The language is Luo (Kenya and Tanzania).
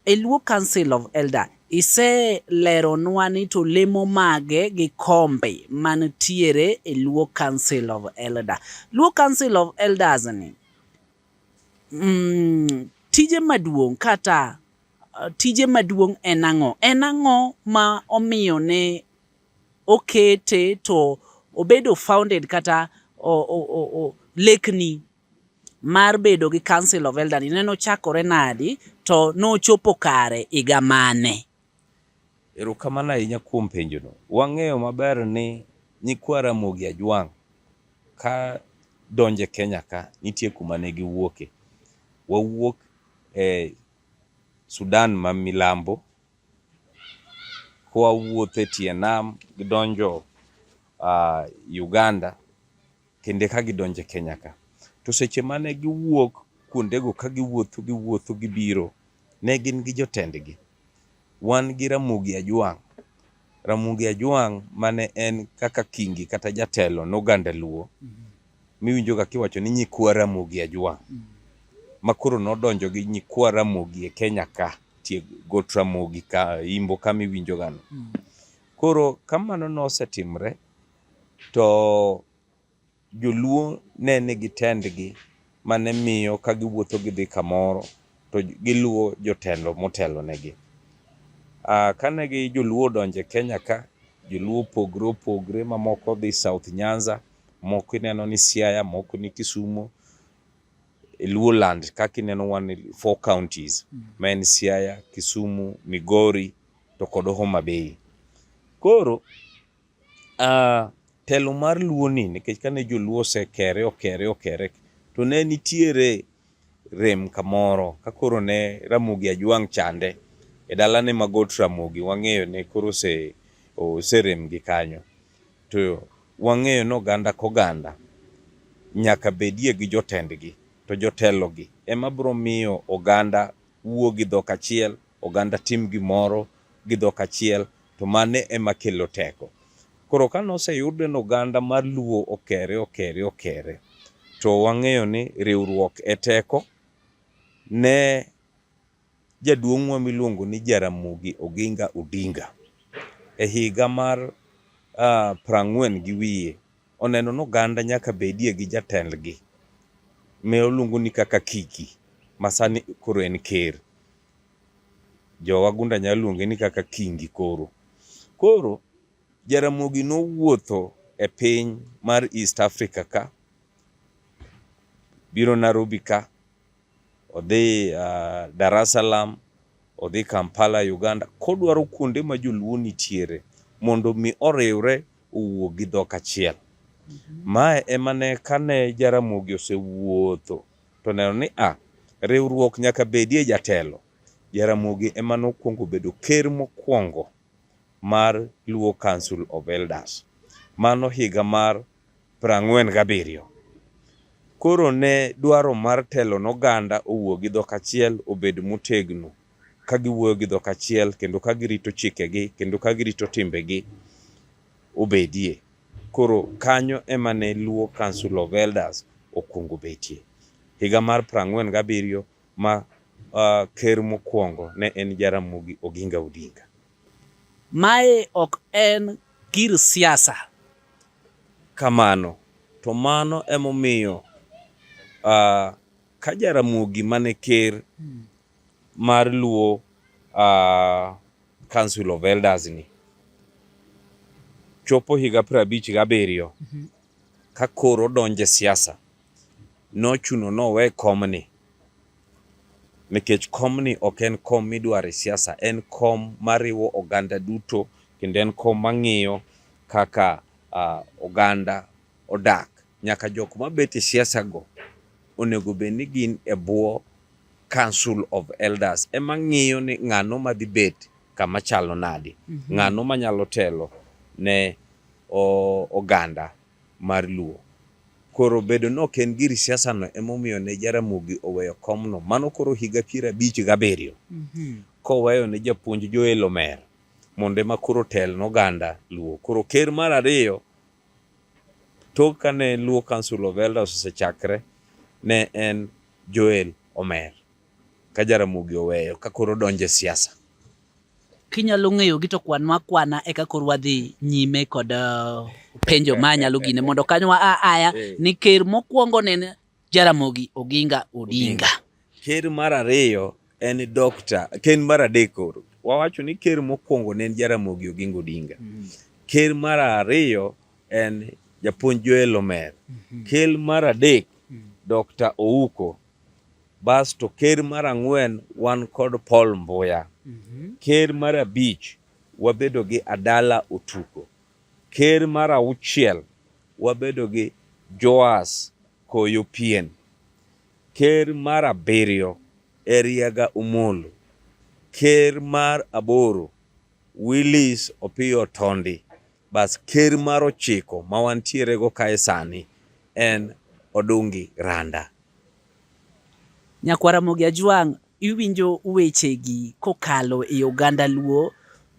E Luo Council of Elder iseleronwa ni to lemo mage gi kombe mantiere e Luo Council of Elder. Luo Council of Elders ni mm, tije maduong' kata uh, tije maduong' en ang'o? En ang'o ma omiyo ne okete to obedo founded kata o, o, o, o, lekni mar bedo gi Council of Elders ne nochakore nadi to nochopo kare higa mane? Erokamano ahinya kuom penjono. Wang'eyo maber ni nyikwa Ramogi Ajwang' ka donjo e Kenya ka nitie kuma ne giwuoke. Wawuok e Sudan ma milambo kwawuotho e tie nam gidonjo Uganda. kendo eka gidonjo e Kenya ka. To seche mane giwuok kuondego ka giwuotho giwuotho gibiro, ne gin gi jotendgi. Wan gi Ramogi Ajwang', Ramogi Ajwang' mane en kaka kingi kata jatelo noganda Luo miwinjoga kiwacho ni nyikwa Ramogi Ajwang' ma koro nodonjo gi nyikwa Ramogi e Kenya ka tie got Ramogi ka imbo kama iwinjogano. Koro kamano nosetimre To joluo ne nigi tendgi mane miyo ka giwuotho gidhi kamoro to giluwo jotelo motelo negi. Ah, kane gi joluo odonje Kenya ka, joluo opogre opogre ma moko dhi South Nyanza, moko ineno ni Siaya, moko ni Kisumo, e Luo land kaka ineno wan four counties, mm. ma en Siaya, Kisumu, Migori to kod Homa Bay. Koro Uh, telo mar luo ni nikech kane joluo osekere okere okere to ne nitiere rem kamoro ka koro ne Ramogi Ajwang' chande e dalane ma Got Ramogi wang'eyo ne koro ose oserem gi kanyo to wang'eyo ni oganda koganda nyaka bedie gi jotendgi to jotelogi ema biro miyo oganda wuo gi dhok achiel oganda tim gimoro gi dhok achiel to mane ema kelo teko. Koro ka noseyud ni oganda mar Luo okere okere okere to wang'eyo ni riwruok e teko ne jaduong'wa miluongo ni Jaramogi Oginga Odinga e higa mar uh, prang'wen gi wiye oneno ni oganda nyaka bedie gi jatendgi me oluongo ni kaka Kiki masani koro en ker. Jowagunda nyalo luonge ni kaka Kingi koro. Koro Jaramogi nowuotho e piny mar East Africa ka, biro Nairobi ka, odhi uh, Dar es Salaam, odhi Kampala, Uganda, kodwaro kuonde ma joluo nitiere mondo mi oriwre owuo gi dhok achiel. Mhm. Mae emane kane Jaramogi osewuotho To neno ni a riwruok nyaka bedie jatelo, Jaramogi ema nokwongo bedo ker mokwongo mar Luo Council of Elders. Mano higa mar prang'wen gabiriyo. Koro ne dwaro mar telo noganda owuo gi dhok achiel obed motegno ka giwuoyo gi dhok achiel kendo ka girito chikegi kendo ka girito timbegi. obedie. Koro kanyo ema ne Luo Council of Elders okwongo betie. Higa mar prang'wen gabiriyo ma uh, ker mokwongo ne en Jaramogi Oginga Odinga. Mae ok en gir siasa. Kamano, to mano emomiyo uh, ka Jaramogi mane ker mar Luo uh, Council of Elders ni chopo higa piero abich gabiriyo mhm. ka koro donje siasa nochuno nowe komni nikech komni ok en kom midwaro e siasa, en kom mariwo oganda duto kendo en kom mang'iyo kaka uh, oganda odak. Nyaka jok mabet e siasago onego bed ni gin e bwo Council of Elders ema ng'iyo ni ng'ano madhi bet kama chalo nadi, mm -hmm. ng'ano manyalo telo ne oganda mar Luo. Koro bedo ni ok en giri siasa no emomiyo ne Jaramogi oweyo komno, mano koro higa piero abich gabiriyo mm -hmm. koweyo ne japuonj Joel Omer mondo ema koro tel noganda Luo. Koro ker mar ariyo Tok kane Luo Council of Elders osechakre ne en Joel Omer ka Jaramogi Oweyo ka koro donje siasa. Kinyalo ng'eyo gi to kwan makwana e ka koro wadhi nyime kod uh, penjo ma nyalo gine mondo kanyo a aya eh. ni ker mokwongo ne Jaramogi Oginga Odinga. Ker mar ariyo en Dr. Ken mar adek koro wawacho ni ker mokwongo ne en Jaramogi Oginga Odinga. Mm. Ker mar ariyo en japuonj Joel Omer. Mm-hmm. Ker mar adek mm. Dr. Ouko. Basto ker mar ang'wen wan kod Paul Mbuya. Mm-hmm. Ker mar abich wabedo gi Adala Otuko. Ker mar auchiel wabedo gi Joas Koyo Pien. Ker mar abiriyo Eriaga Omolo. Ker mar aboro Willis Opiyo Tondi. Bas ker mar ochiko ma wantiere go kae sani en Odungi Randa. Nyakwara Mogi Ajwang' iwinjo wechegi kokalo e oganda Luo